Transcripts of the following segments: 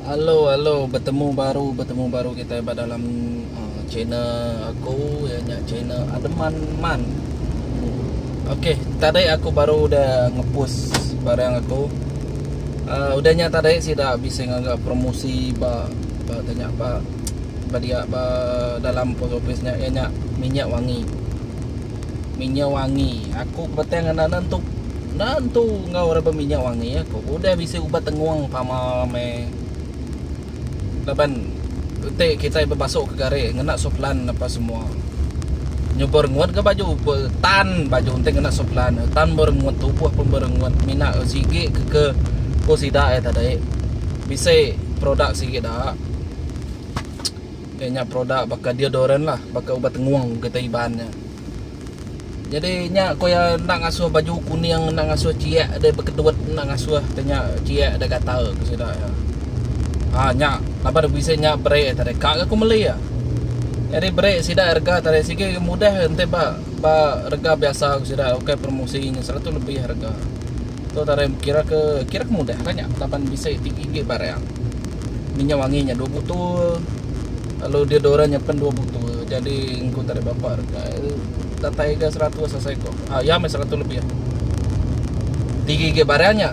Hello hello betemu baru betemu baru kita ba dalam uh, channel aku ya nya channel Ademan Man. Okey, tadi aku baru dah ngepus barang aku. Uh, udah nya tadi sida bisa ngaga promosi ba ba tanya ba ba dia ba dalam post office nya ya nya minyak wangi. minyak wangi. Aku ke betang anak nan tu. Nan tu ngau reba minyak wangi aku. Udah bisi ubat tengung pama me. Laban utai kita bebasuk ke gari ngena soplan apa semua. Nyubur ngut ke baju tan baju enti ngena soplan. Tan berengut tubuh pun berengut mina sigi ke ke ko sida ai tadi. Bisi produk sigi da. Nya nya produk baka deodorant lah, baka ubat tengung kita Iban nya. Jadi nya ko iya enda ngasuh baju kuning, enda ngasuh ciek deh bekedut, enda ngasuh te nya ciek deh gatal ko sida iya. Ha nya laban aku bisi nya bere te deh ka ga ku meli iya. Jadi bere sida rega te deh sigi mudah enti ba ba rega biasa ku sida ukai promosi nya seratus lebih rega. Tu tarim kira ke kira ke mudah lah nya laban bisi ti inggit barang. Minyak wangi nya dua botol. Lalu dia dora nya pen dua botol. Jadi engku tarim bapa rega datai ga 100 asai ko. Ah ya meh 100 lebih. Tiga inggit barang nya.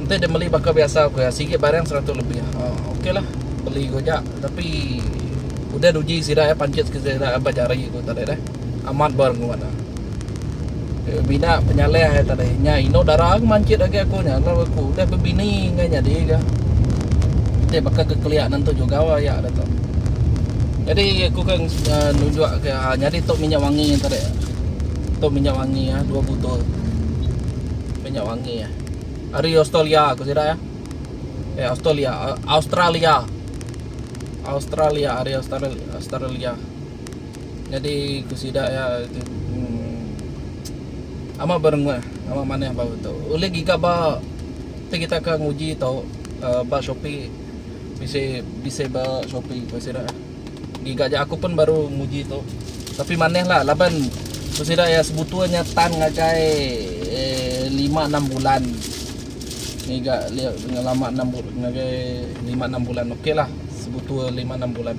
Enti dia meli baka biasa ko ya singgit barang 100 lebih. Ah okey lah beli ko ja tapi udah uji sida ya panchit ke sida ba jari ko tadi deh. Amat bar ngu ngadah. Dia bina penyalih ai tadi. Nya ino dara ke mancit agi aku nya lalu aku udah bebini enggau nyadi ke. Dia baka ke kelia nentu juga aya dia tu. Jadi aku ke uh, nunjuk ke uh, nyadi tu minyak wangi tadi. Tu minyak wangi ya, dua botol. Minyak wangi ya. Hari Australia aku sida ya. Eh Australia, Australia. Australia, hari Australia. Australia. Nyadi ku sida iya tu emm amat berenguh amat manah bau tu. Ulih giga ba ti kita ke nguji tu uhh ba Shopee bisi bisi ba Shopee ku sida giga aja aku pun baru nguji tu tapi manah la laban ku sida iya sebutul nya tan ngagai ehh lima enam bulan ngiga lio lama enam ngagai lima enam bulan okaylah sebutul lima enam bulan.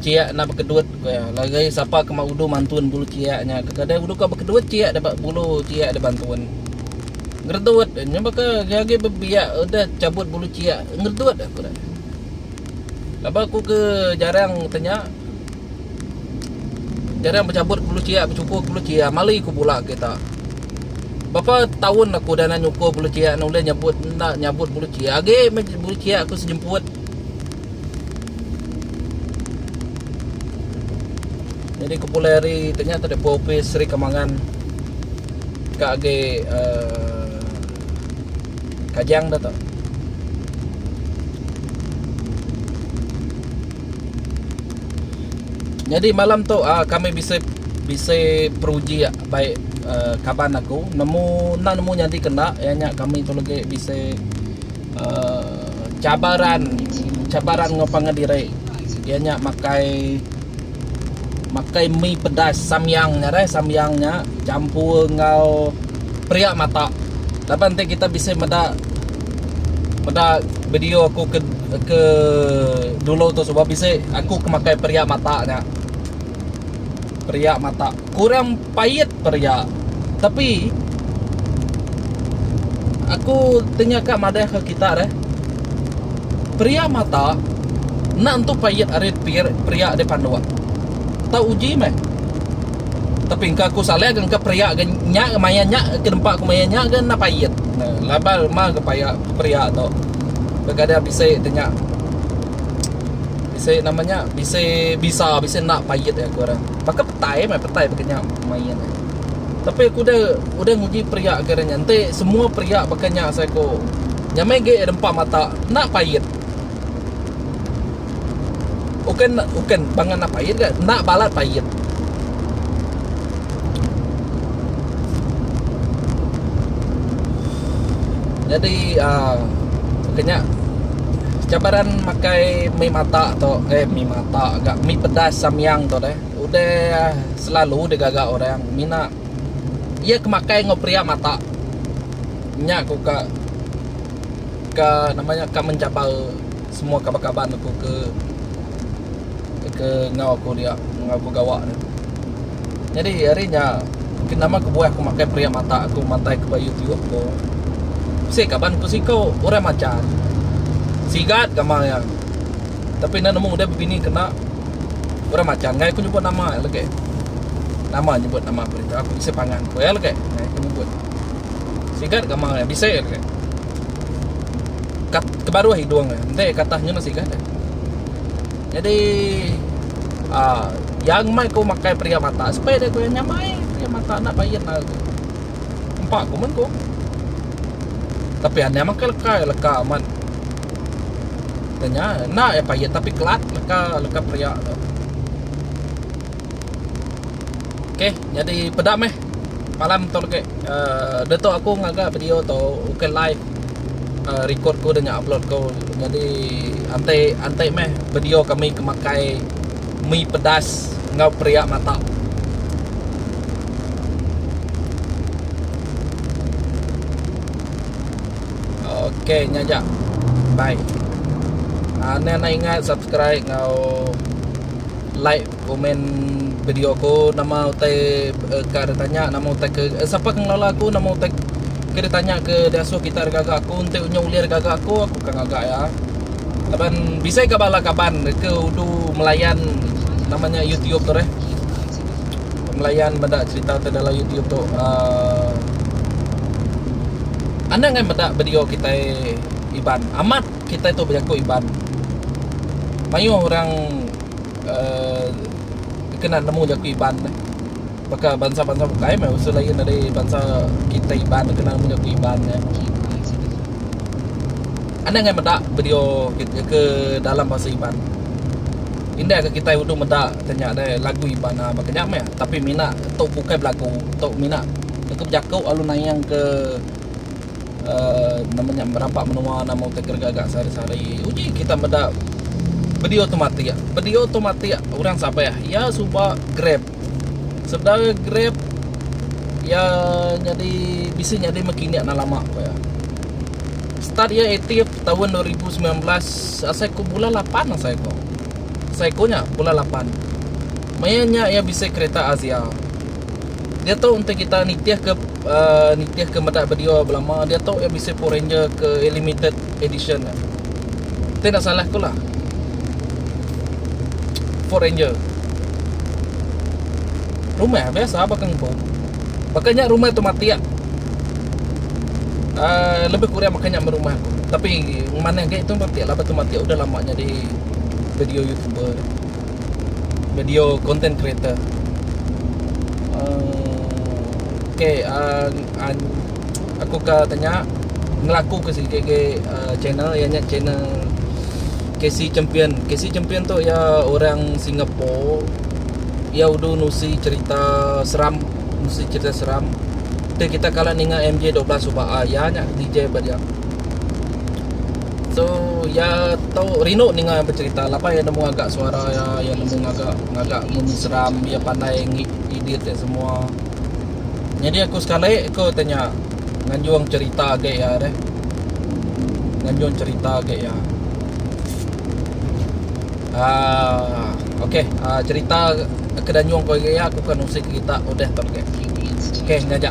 Ciak enda bekedut ku iya. Lagi sapa ke ma udu mantun bulu ciak nya ke kadai udu ka bekedut ciak da bulu ciak da bantun. Ngeredut nya baka agi bebiak udah cabut bulu ciak ngeredut aku da. Laba aku ke jarang tanya jarang becabut bulu ciak becukur bulu ciak mali ku bula kita. Bapa taun aku udah enda nyukur bulu ciak enda ulih nyabut enda nyabut bulu ciak agi bulu ciak ku sejemput. Nyadi ku pulai hari ti nya tadi pua opis Sri Kemangan ka agi uh, Kajang dah tu. Nyadi malam tu uh, kami bisi bisi peruji baik uh, kaban aku nemu enda nemu nyadi kena iya nya kami tu lagi bisi Cabaran, cabaran enggau pangan diri iya nya makai makai mi pedas samyang nya deh samyang nya campur enggau peria mata laban ti kita bisi meda meda video aku ke ke dulu tu suba bisi aku ke makai peria mata nya peria mata kurang Pait peria. Tapi aku tanya ka madah ke kita deh. Peria mata enda entu pait ari peria deh panduk. Tau uji meh. Tapi engka aku saleh ke engka peria ke nya ke maya nya ke nempa aku maya nya ke enda pait. Laban lema ke paya peria tu. Kadang-kadang bisi tanya. Bisi nama nya bisi bisa bisi enda pait aku orang. Baka petai meh petai baka nya main ai. Tapi aku udah udah nguji peria kira nya enti semua peria baka nya asai ku nya meh agi rempa mata enda pait. Uken uken bang enda pait ga enda balat pait. Jadi aaa ke nya cabaran makai mi mata tu eh mi mata ga mi pedas samyang tu deh udah selalu digaga orang mina iya ke makai enggau peria mata nya ku ka ka nama nya ka mencabar semua kaban-kaban aku ke ke ngau aku dia ngau aku gawa dia jadi hari nya ke nama kebuah aku makai periak mata aku mantai ke ba youtube ko bisi kaban ku siko orang machan sigat gamal nya tapi enda nemu udah bebini kena orang machan ngai ku nyebut nama nya legi nama nyebut nama perintah ku bisi pangan ku nya legi ngai ku nyebut sigat gamal nya bisi legi. Kat, kebaruh hidung dia. Enti katahnya masih gada. Jadi uh, yang mai ku makai pria mata sepai dia ku yang nyamai pria mata nak bayin lah aku. Empak ku men ku. Tapi anda makai leka, leka amat. Tanya, nak ya payit tapi kelat leka, leka pria tu. Okay, jadi pedak meh. Malam tu lagi uh, dia tu aku ngaga video tu ukai live uh, record ku dengan upload ku. Jadi antai antai meh video kami kemakai mi pedas ngau peria mata. Okey nya ja. Bye. Uh, ah, anda nak ingat subscribe ngau like Komen video aku nama utai eh, ka ada tanya nama utai ke eh, siapa ke ngelola aku nama utai ke dia tanya ke dia asuh kita ada gaga aku enti unya ulir gaga aku aku ka gaga ya. Kaban bisai ka bala kaban ke udu melayan namanya YouTube tu deh. Melayan meda cerita tu dalam YouTube tu. Uh, anak ngai meda video kita Iban. Amat kita tu berjaku Iban. Mayuh orang uhh kena nemu jaku Iban nih. Baka bansa-bansa bukai meh usul ain ari bansa kitai Iban nih kena nemu jaku Iban nya. Anih angai meda video ke dalam bahasa Iban. Indah ke kitai uduh meda ke nya deh lagu Iban uhh baka nya meh tapi mina tok bukai belagu tok mina tok bejaku lalu nayang ke. Nama nya merampa menua nama utai kereja ga sehari-sehari uji kita meda bedi automatik bedi automatik orang sabeh iya suba grab sebedau iya grab iya nyadi bisi nyadi mekini enda lama ku iya start iya aktif taun dua ribu semilan belas asai ku bulan lapan asai ku asai ku nya bulan lapan maya nya iya bisi kereta azia. diatu enti kita nitihka uh nitihka meda video belama diatu iya bisi power ranger ke limited edition nya. Ti enda salah ku lah. Power ranger. Rumah biasa baka empu. Baka nya rumah tu matik. Uh lebih kurang baka nya meh rumah aku. Tapi manah agi tu matik laban tu matik udah lama nyadi video youtuber. video content creator uh okay uh uh aku ka tanya ngelaku ke sigi ke uh channel iya nya channel casey champion casey champion tu iya orang singapore iya udu nusi cerita seram nusi cerita seram tapi kita kala ninga mj dua belas suba uh iya nya dj ba dia So iya tu rindu ninga iya becerita laban iya nemu agak suara iya iya nemu ngaga ngaga munyi seram iya pandai ngi edit iya semua nyadi aku sekali ku tanya nganjung cerita agi iya deh nganjung cerita agi iya aaa okay aaa cerita ke nganjung aku agi iya aku akan nusi kita udah tau agi okay nya aja.